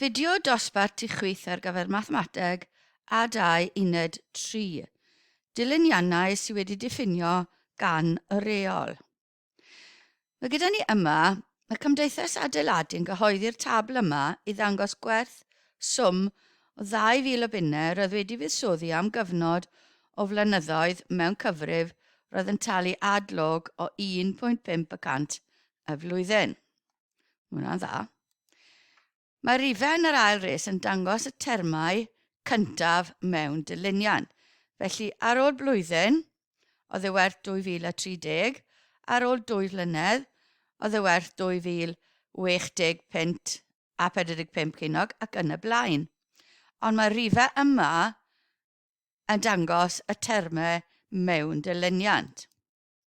Fideo dosbarth i chwith ar gyfer Mathemateg a 2 Uned 3. Dilyniannau sydd wedi diffinio gan y reol. Mae gyda ni yma, mae Cymdeithas Adeiladu yn gyhoeddi'r tabl yma i ddangos gwerth swm o 2,000 o bunne roedd wedi fuddsoddi am gyfnod o flynyddoedd mewn cyfrif roedd yn talu ad-log o 1.5 y cant y flwyddyn. Mae hwnna'n dda. Mae rifau yn yr ail res yn dangos y termau cyntaf mewn dyluniad. Felly, ar ôl blwyddyn, oedd e werth 2030, ar ôl dwy flynedd, oedd e werth 2060 punt a 45 cenog ac yn y blaen. Ond mae rifau yma yn dangos y termau mewn dyluniad.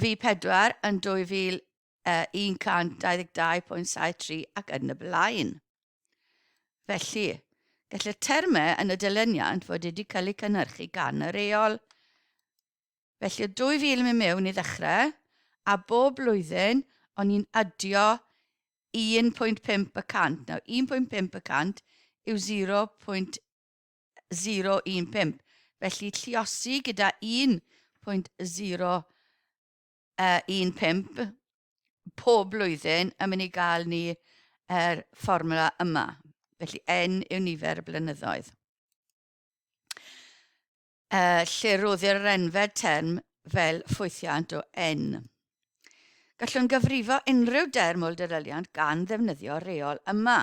Vee pedwar yn 2122.73 ac yn y blaen. Felly, gall y termau yn y dilyniant fod wedi cael eu cynhyrchu gan y reol. Felly, o 2000 i mewn i ddechrau, a bob blwyddyn, o'n i'n adio 1.5 y cant. Nawr, 1.5 y cant yw 0.5 0.15, felly lliosi gyda 1.015 pob blwyddyn yn mynd i gael ni yr fformula yma. Felly n yw nifer y blynyddoedd. Uh, lle roddir yr enfed term fel ffwythiant o n. Gallwn gyfrifo unrhyw derm o'r deddfwriaeth gan ddefnyddio reol yma.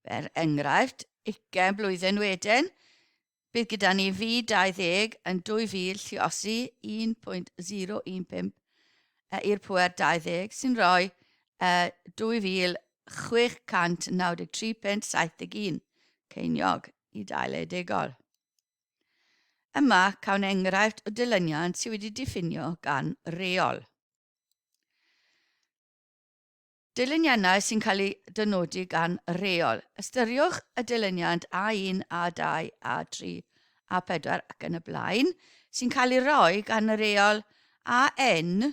Fer enghraifft, ugain blwyddyn wedyn, bydd gyda ni fi 20 yn 2000 lliosi 1.015 e i'r pwer 20 sy'n rhoi e 2693.71 ceiniog i dail eidegol. Yma cawn enghraifft o dilyniant sydd wedi diffinio gan reol. Dilyniannau sy'n cael eu dynodi gan reol. Ystyriwch y dilyniant A1, A2, A3, A4 ac yn y blaen sy'n cael ei roi gan y reol AN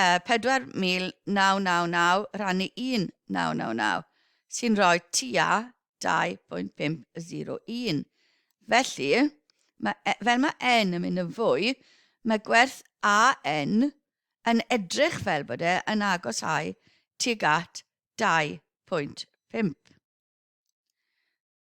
Yy 4,999 rhannu 1,999 sy'n rhoi tua 2.501. Felly, ma, e, fel mae N yn mynd yn fwy, mae gwerth AN yn edrych fel bod e yn agosáu tuag at 2.5.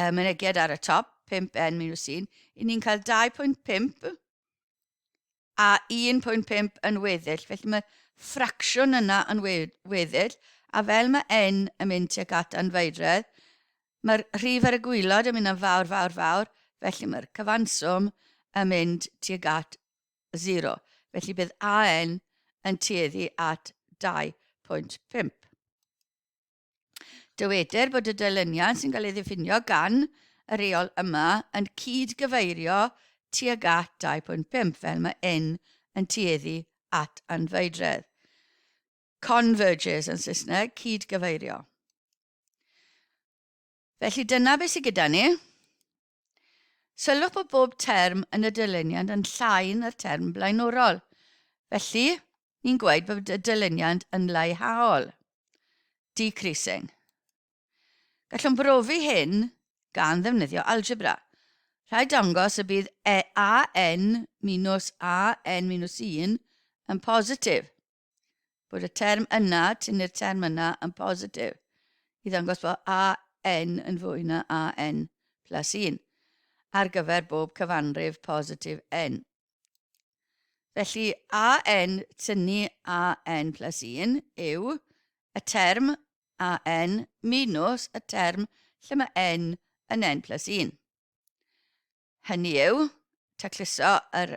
y mynegiad ar y top, 5N minus 1, i ni'n cael 2.5 a 1.5 yn weddill. Felly mae ffracsiwn yna yn weddill, a fel mae N yn mynd tuag at anfeiredd, mae'r rhif ar y gwylod yn mynd yn fawr, fawr, fawr, felly mae'r cyfanswm yn mynd tuag at 0. Felly bydd AN yn tueddu at 2.5. Dywedir bod y dilyniant sy'n cael ei ddiffinio gan y reol yma yn cyd-gyfeirio tuag at 2.5 fel mae yn yn tueddu at anfeidredd. Converges yn Saesneg, cyd-gyfeirio. Felly dyna beth sydd gyda ni. Sylwch bod bob term yn y dyluniad yn llai na'r term blaenorol. Felly, ni'n gweud bod y dyluniad yn leihhaol, decreasing. Gallwn brofi hyn gan ddefnyddio algebra. Rhaid dangos y bydd e AN minus AN minus 1 yn positif. bod y term yna, tynnu'r term yna yn positif i ddangos bod AN yn fwy na AN plus 1 ar gyfer bob cyfanrif positif N. Felly AN tynnu AN plus 1 yw y term AN minus y term lle mae N yn N plus 1. Hynny yw, tacluso yr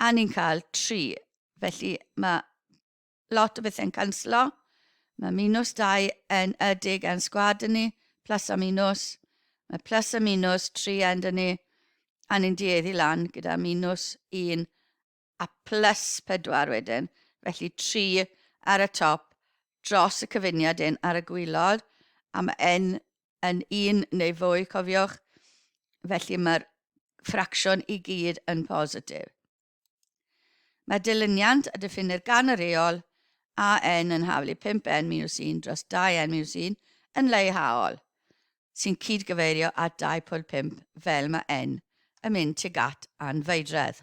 A ni'n cael tri. Felly mae lot o bethau'n canslo. Mae minws dau yn ydig yn sgwad yn ni, plus a minws. Mae plus a minws tri yn dyn ni, a ni'n dueddu lan gyda minws un a plus pedwar wedyn. Felly tri ar y top dros y cyfuniad un ar y gwylod, a mae yn yn un neu fwy, cofiwch, felly mae'r ffracsiwn i gyd yn positif. Mae dilyniant a diffinir gan y reol a n yn haflu 5n minus 1 dros 2n minus 1 yn leihhaol, sy'n cyd-gyfeirio at 2.5 fel mae n yn mynd tuag at anfeidredd.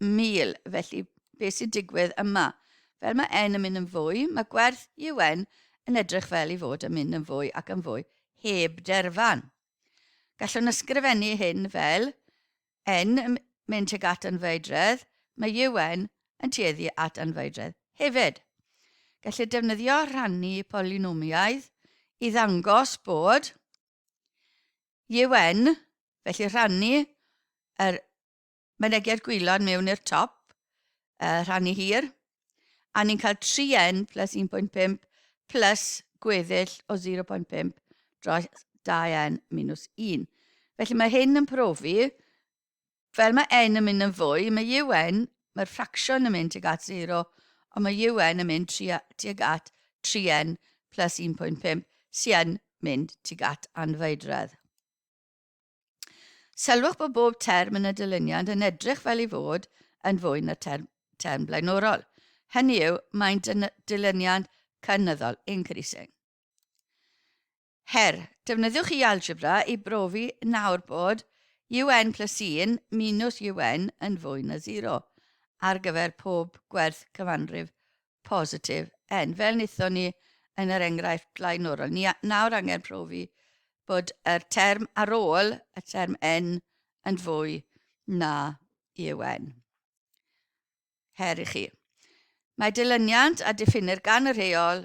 mil, felly beth sy'n digwydd yma? Fel mae N yn mynd yn fwy, mae gwerth UN yn edrych fel i fod yn mynd yn fwy ac yn fwy heb derfan. Gallwn ysgrifennu hyn fel N yn mynd tuag at anfeidredd, mae UN yn tueddu at anfeidredd hefyd. Gellir defnyddio rhannu polynomiaidd i ddangos bod UN, felly rhannu yr Mynegiad gwylod mewn i'r top, y rhan i hir, a ni'n cael 3n plus 1.5 plus gweddill o 0.5 dros 2n minus 1. Felly mae hyn yn profi, fel mae n yn mynd yn fwy, mae un, mae'r ffracsiwn yn mynd tuag at 0, ond mae un yn mynd tuag at 3n plus 1.5 sy'n mynd tuag at anfeidredd. Sylwch bod bob term yn y dyluniad yn edrych fel ei fod yn fwy na term, term blaenorol. Hynny yw, mae'n dyluniad cynyddol, increasing. Her, defnyddiwch i algebra i brofi nawr bod un plus 1 minus un yn fwy na 0 ar gyfer pob gwerth cyfanrif positif, en, fel wnaethon ni yn yr enghraifft blaenorol, ni nawr angen profi bod yr term ar ôl y term en yn fwy na EUN. Her i chi. Mae dilyniant a diffinir gan y rheol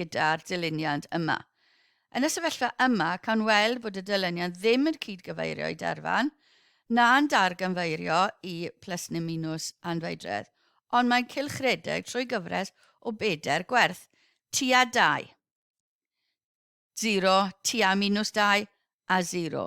gyda'r dilyniant yma. Yn y sefyllfa yma, cawn weld bod y dilyniant ddim yn cyd-gyfeirio i derfan, na'n darganfeirio i plus neu minws anfeidredd, ond mae'n cylchredeg trwy gyfres o bedair gwerth, tua 2, 0, tua minws 2, a 0.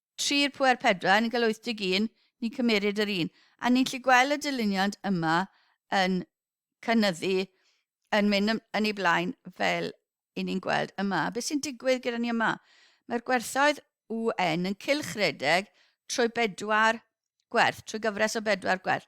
Tri'r pwer pedwar, ni'n cael 81, ni'n cymeryd yr un. A ni'n lli gweld y dyluniad yma yn cynnyddu, yn mynd yn ei blaen fel i ni'n gweld yma. Beth sy'n digwydd gyda ni yma? Mae'r gwerthoedd UN yn cylchredeg trwy bedwar gwerth, trwy gyfres o bedwar gwerth.